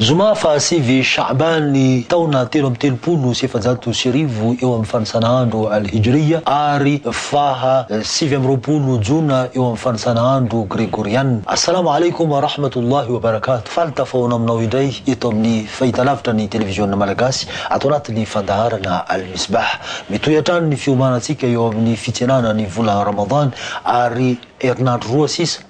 Zoma faha sivy Sha'ban ny taona telo amby telopolo sy efajato sy arivo eo amin'ny fanisana andro Al-Hijriya ary faha sivy amby roapolo Jona eo amin'ny fanisana andro Gregoriana. Assalamu alaikum wa rahmatullahi wa barakatuh, faly tafahaona aminao indray eto amin'ny fahitalavitra ny Televiziona Malagasy ato anatin'ny fandaharana Al-Misbah. Mitohy hatrany ny fiomanantsika eo amin'ny fitsenana ny vola Ramadan ary herinandro roa sisa.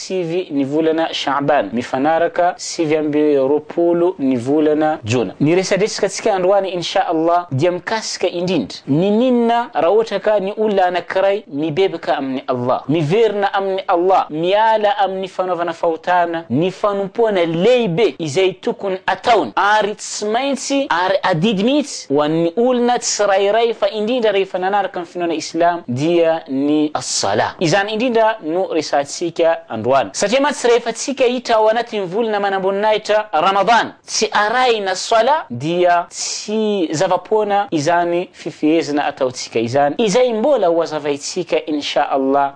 sivy ny volana Sha'ban, mifanaraka sivy amby roapolo ny volana Jona. Ny resadresakantsika androany In Sha Allah dia mikasika indrindra ny ninona raha ohatra ka ny olona anankiray mibebaka amin'i Allah, miverina amin'i Allah, miala amin'ny fanaovana fahotana, ny fanompoana lehibe izay tokony ataony ary tsy maintsy ary adidy mihitsy, ho an'ny olona tsirairay fa indrindra rehefa nanaraka ny finoana islam dia ny as-salah. Izany indrindra no resahantsika androany satria mantsy rehefa tsikaitra ao anatin'ny volana manamboninahitra Ramadan tsy arahina salah dia tsy zava-poana izany fifehezana ataontsika izany izay mbola ho hazavaintsika in sha Allah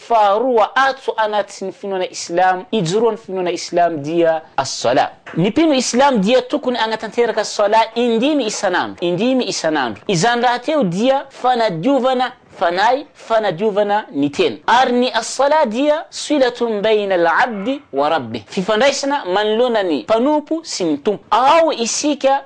Faharoa, atso anaty ny finoana islamo, ijoroa ny finoana islamo dia as-salah. Ny mpino islamo dia tokony anatanteraka salah indimy isan'andro, indimy isan'andro. Izany rahateo dia fanadiovana fanahy, fanadiovana ny tena. Ary ny as-salah dia swilatun bayn al-'abdi wa rabbih, fifandraisana manoloana ny mpanompo sy ny tompo. Ao isika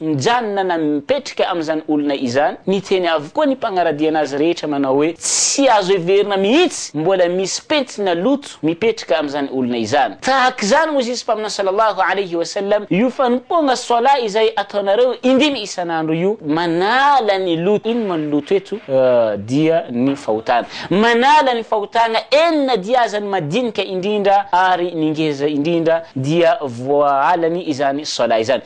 Mijanona na mipetrika amin'izany olona izany, miteny avokoa ny mpagnaradiana azy rehetra manao hoe tsy azo heverina mihitsy, mbola misy pentina loto mipetraka amin'izany olona izany. Tahaka izany hoy Zizy Mpaminany Sallallahu Alaihi Wasallam, io fanompoagna Salat izay ataonareo indimy isan'andro io, manala ny loto, ino moa ny loto eto? dia ny fahotana, manala ny fahotagna enina dia aza ny madinika indrindra ary ny ngeza indrindra dia voahalany izany Salat izany.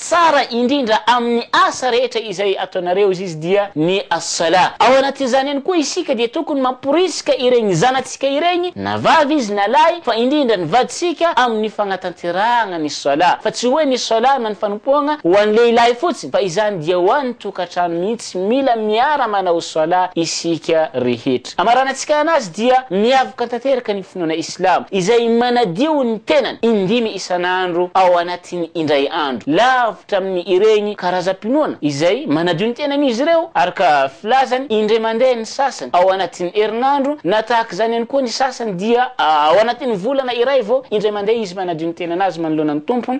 Tsara indrindra amin'ny asa rehetra izay ataonareo izy dia ny As-Salah. Ao anatin'izany ihany koa isika dia tokony mamporisika ireny zanatsika ireny na vavy izy na lahy fa indrindra ny vadintsika amin'ny fagnatanterahagna ny Salah fa tsy hoe ny Salah na ny fanompoagna ho an'ny lehilahy fotsiny fa izany dia ho an'ny tokatrano mihitsy mila miara manao Salah isika rehetra. Andriamanitra. Amaranantsika anazy dia miavaka tanteraka ny finoana islamo izay manadio ny tenany indimy isan'andro ao anatin'ny indray andro, lavitra amin'ny ireny karazam-pinoana izay manadio ny tenany izy ireo araka filazany indray mandeha ny sasany ao anatin'ny herinandro na tahaka izany ihany koa ny sasany dia ao anatin'ny volana iray vao indray mandeha izy manadio ny tenan'azy manoloana ny Tompony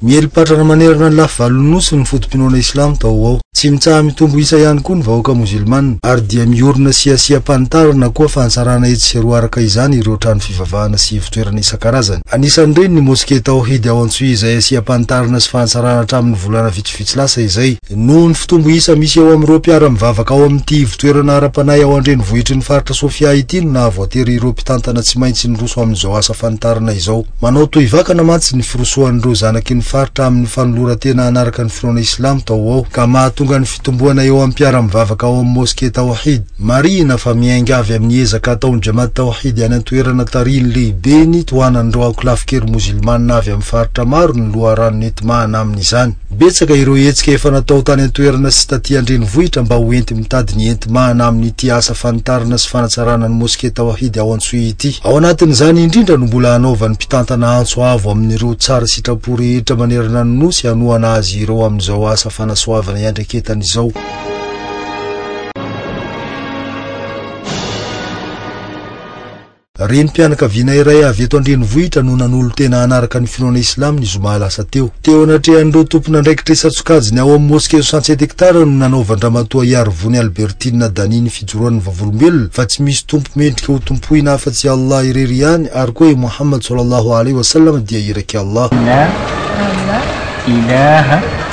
Miely patrana manerana ny lafy valon'ny Nosy ny foto-pinoana Islam tao ho ao. Tsy mitsaha-mitombo isa ihany koa ny vahoaka Mozilmana, ary dia miorina sy asiam-panitarana koa fanitsarana etsy sy eroa araka izany ireo trano fivavahana sy ivo-toerana isan-karazany. Anisan'ireny ny Mosquée Tawhid ao Antsohihy izay asiam-panitarana sy fanitsarana hatramin'ny volana vitsivitsy lasa izay. Noho ny fitombo isa misy eo amin'ireo mpiara-mivavaka ao amin'ity ivo-toerana ara-panahy ao an-drenivohitry ny faritra Sofia ity no nahavoatery ireo mpitantana tsy maintsy niroso amin'izao asa fanitarana izao. Manao tohy vakana mantsy ny firosoan'ireo zanaky ny faritra amin'ny fanoloran-tena hanaraka ny finoana Islamo tao ho ao, ka mahatonga ny fitomboana eo amin'ny mpiara-mivavaka ao amin'ny Moske Tawhid. Marihina fa miainga avy amin'ny ezaka ataon'ny Jamaat Tawhid any an-toerana tarihin'ny lehibeny tohanan'ireo ankolafin-kery Mozilmana avy amin'ny faritra maro ny loharano nentimahana amin'izany. Betsaka ireo hetsika efa natao tany an-toerana sy taty an-drenivohitra mba ho enti-mitady ny enti-mahana amin'ity asa fanitarana sy fanatsarana ny moske Tawhid ao Antsohihy ity. Ao anatin'izany indrindra no mbola hanaovan'ny mpitantana antso avo amin'ireo tsara sitrapo rehetra manerana ny Nosy hanohana azy ireo amin'izao asa fanasoavana iandraiketany izao. Renim-pianakaviana iray avy eto an-drenivohitra no nanolo-tena hanaraka ny finoana Islam ny zoma lasa teo. Teo anatrehan'ireo tompon'andraikitra isan-tsokajiny ao amin'ny Mosquée au Sentier d'Hectare no nanaovan-dRamatoa Hiarivony Albertine Dany ny fijoroan'ny vavolombelona fa tsy misy tompo mendrika ho tompoina afa-tsy i Allah irery ihany ary koa i Mohammad Sallallahu Alaihi Wasallam dia iraky Allah. La ilaha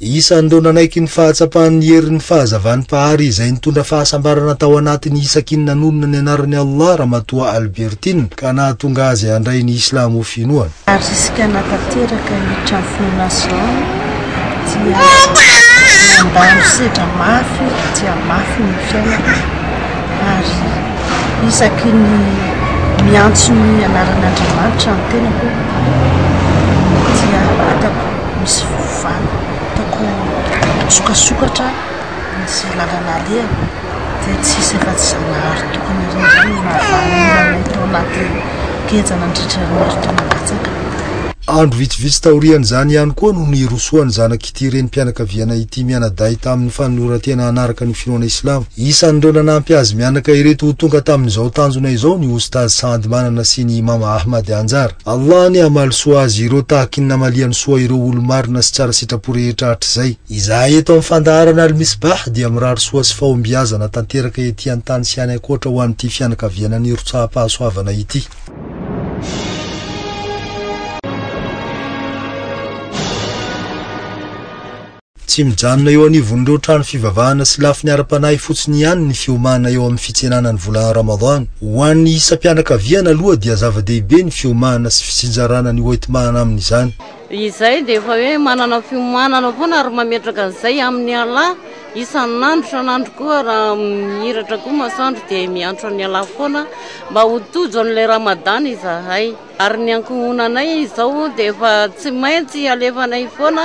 Isan'ireo nanaiky ny fahatsapan'ny herin'ny fahazavan'ny Mpahary izay nitondra fahasambarana tao anatin'i Isakin nanonona ny anaran'i Allah Ramatoa Albertin ka nahatonga azy handray ny Islamo ho finoana. Ary isika nahatanteraka ny trano finoana Zion dia nandalo sedra mafy dia mafy ny fiainako ary isaky ny miantso ny anaran'Andriamanitra ny tenako dia hitako misy izany hitako misokasokatra misy lalana alehany dia tsy hisy afa tsy Zanahary tokony indrindra izay no nahavanona anay tao anaty keja nandritra ny herintaona latsaka. Andro vitsivitsy taorian'izany ihany koa no nirosoan'ny zanak'ity renim-pianakaviana ity mianadahy tamin'ny fanoloran-tena hanaraka ny finoana islamo. Isan'ireo nanampy azy mianaka ireto ho tonga tamin'izao tanjona izao ny Oustaz Saad Manana sy ny Imam Ahmad Anjar. Allah anie hamaly soa azy ireo tahakiny namaliany soa ireo olo-marina sy tsara sitrapo rehetra hatrizay. Izahay eto amin'ny fandaharana Al-Misbah dia mirary soa sy fahombiazana tanteraka ety an-tany sy any ankoatra ho an'ity fianakaviana nirotsaham-pahasoavana ity. Tsy mijanona eo anivon'ireo trano fivavahana sy lafiny ara-panahy fotsiny ihany ny fiomana eo amin'ny fitsenana ny volana Ramadhan. Ho an'ny isam-pianakaviana aloha dia zava-dehibe ny fiomana sy fitsinjarana ny hoenti-mahana amin'izany. Izay dia efa hoe manana fiomanana foana ary mametraka an'izay amin'i Allah isan'andro isan'andro koa raha mihiratra koa masoandro dia miantso an'i Allah foana mba ho tojo an'ilay Ramadhan izahay. Ary ny ankohonanay izao dia efa tsy maintsy alefanay foana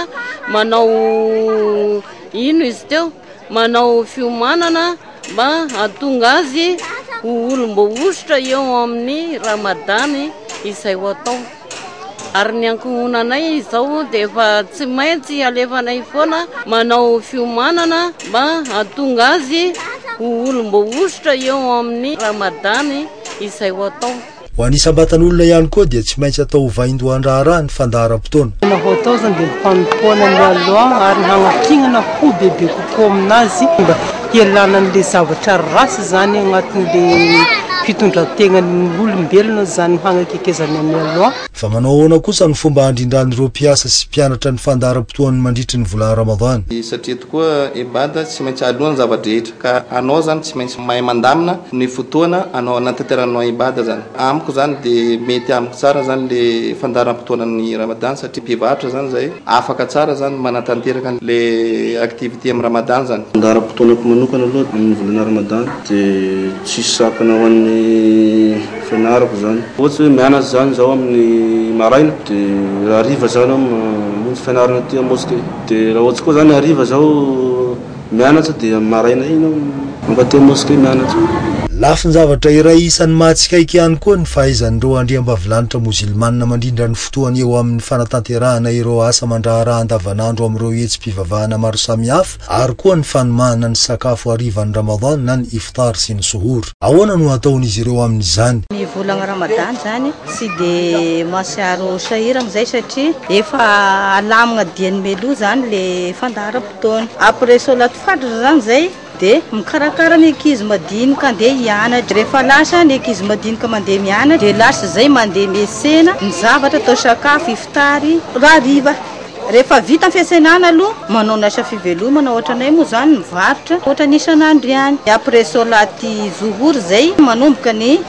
manao ino izy teo, manao fiomanana mba hahatonga azy ho olom-boahosotra eo amin'ny Ramadany izay ho atao. Ary ny ankohonanay izao dia efa tsy maintsy alefanay foana manao fiomanana mba hahatonga azy ho olom-boahosotra eo amin'ny Ramadany izay ho atao. Ho an'ny isam-batan'olona ihany koa dia tsy maintsy atao ho vaindohan-draharaha ny fandaharam-potoana. Tena hoataozany dia ny fanompoana ny Allah ary ny hagnakignana ho bebe kokoa amin'Azy mba hialana an'ilay zavatra ratsy izany agnatin'ilay fitondran-tegnan'ny olombelona izany ny hagnakekezany an'i Allah. Fa manao ahoana kosa ny fomba handrindran'ireo mpiasa sy mpianatra ny fandaharam-potoany mandritry ny volana Ramadhan? Satria tokoa ibadah tsy maintsy alohan'ny zava-drehetra. Ka anao zany tsy maintsy mahay mandamina ny fotoana anao anatanteranao ibada zany. Amiko zany de mety amiko tsara zany le fandaharam-potoanan'ny Ramadan satria mpivarotra zany zay afaka tsara zany manatanteraka le activité amin'ny Ramadan zany. Fandaharam-potoanako manokana aloha amin'ny volana Ramadan de tsisy sakana ho an'ny fianarako zany. Ohatsy hoe mianatra zany zaho amin'ny maraina de raha hariva zany aho mamonjy fianarana aty amosquée de raha ohatsy koa zany hariva zaho Mianatra dia amin'ny maraina iny aho mankaty mosquée mianatra. Lafin-javatra iray isan'ny mahatsikaiky ihany koa ny fahaizan'ireo andriambavilanitra mozilmana mandrindra ny fotoany eo amin'ny fanatanterahana ireo asa aman-draharaha andavanandro amin'ireo hetsi-pivavahana maro samihafa ary koa ny fanomahana ny sakafo harivan'ny Ramadan na ny Iftar sy ny Suhoor. Ahoana no ataon'izy ireo amin'izany? Ny volana Ramadan izany tsy dia mahatsiaro sahirana izay satria efa alamina dian'ny Meloa izany ilay fandaharam-potoana. taona. Après solat fajr zany zay de mikarakara ny ankizy madinika andeha hianatra. Rehefa lasa ny ankizy madinika mandeha mianatra de lasa zay mandeha miesena ny zavatra atao sakafo, iftary, hariva. Rehefa vita ny fiasenana aloha manao ny asa fivelomana ohatra anay moa zany mivarotra ohatra ny isan'andro ihany. Après solat zuhur zay manomboka ny